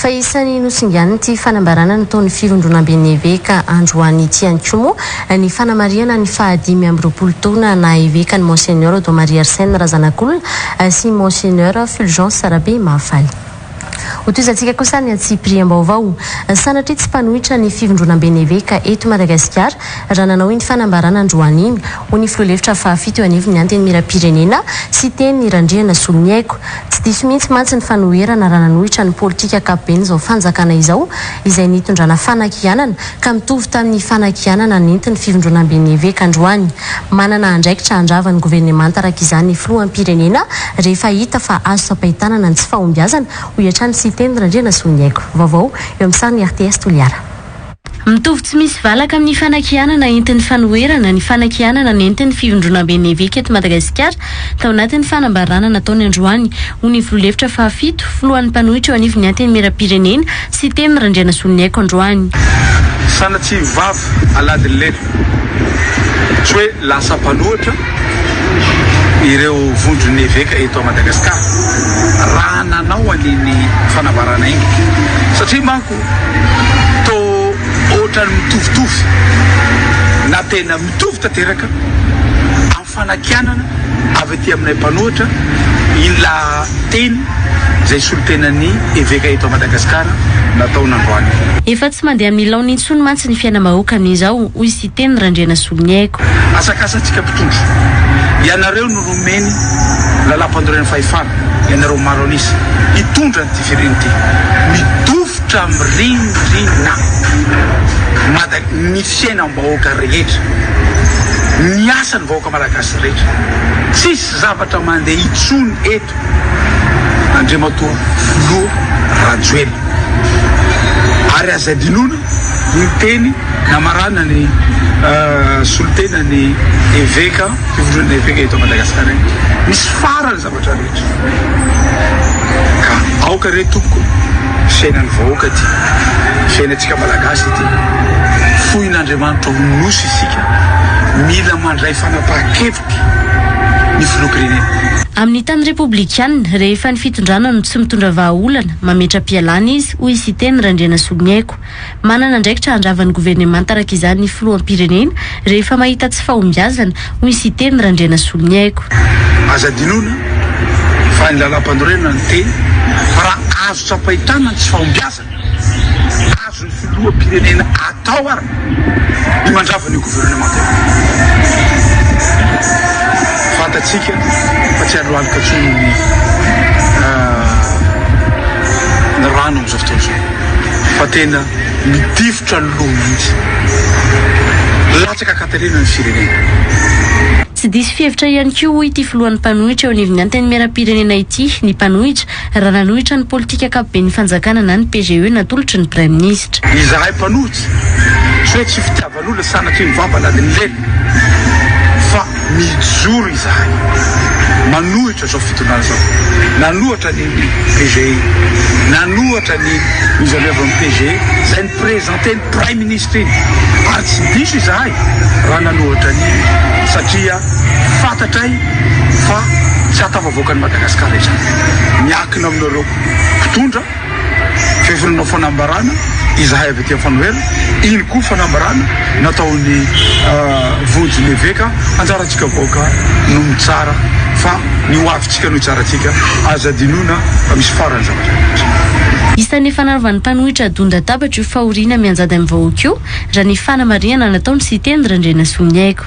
Fa isan'ny nosinganin'ity fanambarana nataon'ny Firondronamben'ny Eveka androany ity ihany koa moa ny fanamarihana ny faha dimy amby roapolo taona naha Eveka an'i Monseigneur Don Maria Arsène Razanakolona sy Monseigneur Fulgence Rabehimahafaly. Ho tohizantsika kosa ny antsipiriam-baovao. Sanatria tsy mpanohitra ny Firondronamben'ny Eveka eto Madagasikara raha nanao iny fanambarana androany iny, hoy ny filoha lefitra fahafito eo anivon'ny Antenimierampirenena, Siteny Randrianasoloniaiko. Tsy diso mihitsy mantsy ny fanoherana raha nanohitra ny politika ankapoben'izao fanjakana izao, izay nitondrana fanakianana ka mitovy tamin'ny fanakianana nentin'ny fivondronamben'ny eveka androany. Manana andraikitra handrava ny governemanta araka izany ny filoham-pirenena rehefa hita fa azo tsapain-tanana ny tsy fahombiazana, hoy hatrany Siteny Randrianasoloniaiko. Vaovao eo amin'ny sarony RTS Toliara. Mitovy tsy misy valaka amin'ny fanakianana entin'ny fanoherana ny fanakianana nentin'ny Fivondronamben'ny Eveka eto Madagasikara tao anatin'ny fanambarana nataony androany ho ny Filoha lefitra fahafito, Filohan'ny mpanohitra eo anivon'ny Antenimierampirenena, Siteny Randrianasoloniaiko androany. Sanatria vava aladin'ny lelo. Tsy hoe lasa mpanohitra ireo Vondron'ny Eveka eto Madagasikara raha nanao an'iny fanambarana iny satria manko, Toa ohatran'ny mitovitovy na tena mitovy tanteraka amin'ny fanakianana avy aty aminay mpanohitra iny lahateny izay solontenan'ny eveka eto Madagasikara natao nandroany. Efa tsy mandeha amin'ny laoniny intsony mantsy ny fiainam-bahoaka amin'izao, hoy Siteny Randrianasoloniaiko. Asakasantsika mpitondra, ianareo no Nomeny lalampanorenana fahefana ianareo maro an'isa hitondra an'ity firenena ity. Midofitra mirindrina Mada ny fiainam-bahoaka rehetra, ny asan'ny vahoaka malagasy rehetra. Tsisy zavatra mandeha intsony eto. Andriamatoa Filoha Rajoelina. Ary aza adinoina ny teny namarana ny solontenan'ny eveka. Fivorin'ny Efeka eto Madagasikara iny misy farany zavatra rehetra ka aoka re tompoko fiainan'ny vahoaka ity fiainantsika malagasy ity foin'Andriamanitra ho nosy isika mila mandray fanapahan-kevitra ny filoham-pirenena. Amin'ny tany repoblikanina, rehefa ny fitondrana no tsy mitondra vahaolana, mametra-pialana izy, hoy i Siteny Randrianasoloniaiko. Manana andraikitra handrava ny governemanta araka izany ny filoham-pirenena rehefa mahita tsy fahombiazana, hoy ny Siteny Randrianasoloniaiko. Aza adinoina fa ny Lalàmpanorenana niteny fa raha azo tsapain-tanana ny tsy fahombiazana azon'ny filoham-pirenena atao ary ny mandrava an'io governemanta io. Fantatsika fa tsy halohalika intsony ny rano amin'izao. Lavitra izao fa tena midifotra ny loha mihitsy. Latsaka an-katerena ny firenena. Tsy diso fihevitra ihany koa hoy ity filohan'ny mpanohitra eo anivon'ny Antenimierampirenena ity ny mpanohitra raha nanohitra ny politika ankapoben'ny fanjakana na ny PGE natolotry ny Praiminisitra. Izahay mpanohitra, tsy hoe tsy fitiavana. Maloha sanatria ny vava lalinileny fa mijoro izahay manohitra izao fitondrana izao. Nanohatra ny PGE, nanohatra ny mise en œuvre ny PGE izay ni-presenter ny Praiminisitra iny ary tsy diso izahay raha nanohatra an'iny satria fantatray fa tsy hahatafavoaka an'i Madagasikara izany. Miakina aminareo mpitondra. Vehivolombao fanambarana izahay avy aty Anfanohelo, iny koa fanambarana nataon'ny vonjy ny eveka, anjarantsika vahoaka no mitsara fa ny ho avintsika no hitsarantsika, aza adinoina fa misy farany zavatra rehetra. Isan'ny efa nanaovan'ny mpanohitra adon-databatra io fahoriana mianjady amin'ny vahoaka io, raha ny fanamarihana nataon'i Siteny Randrianasoa Niaiko.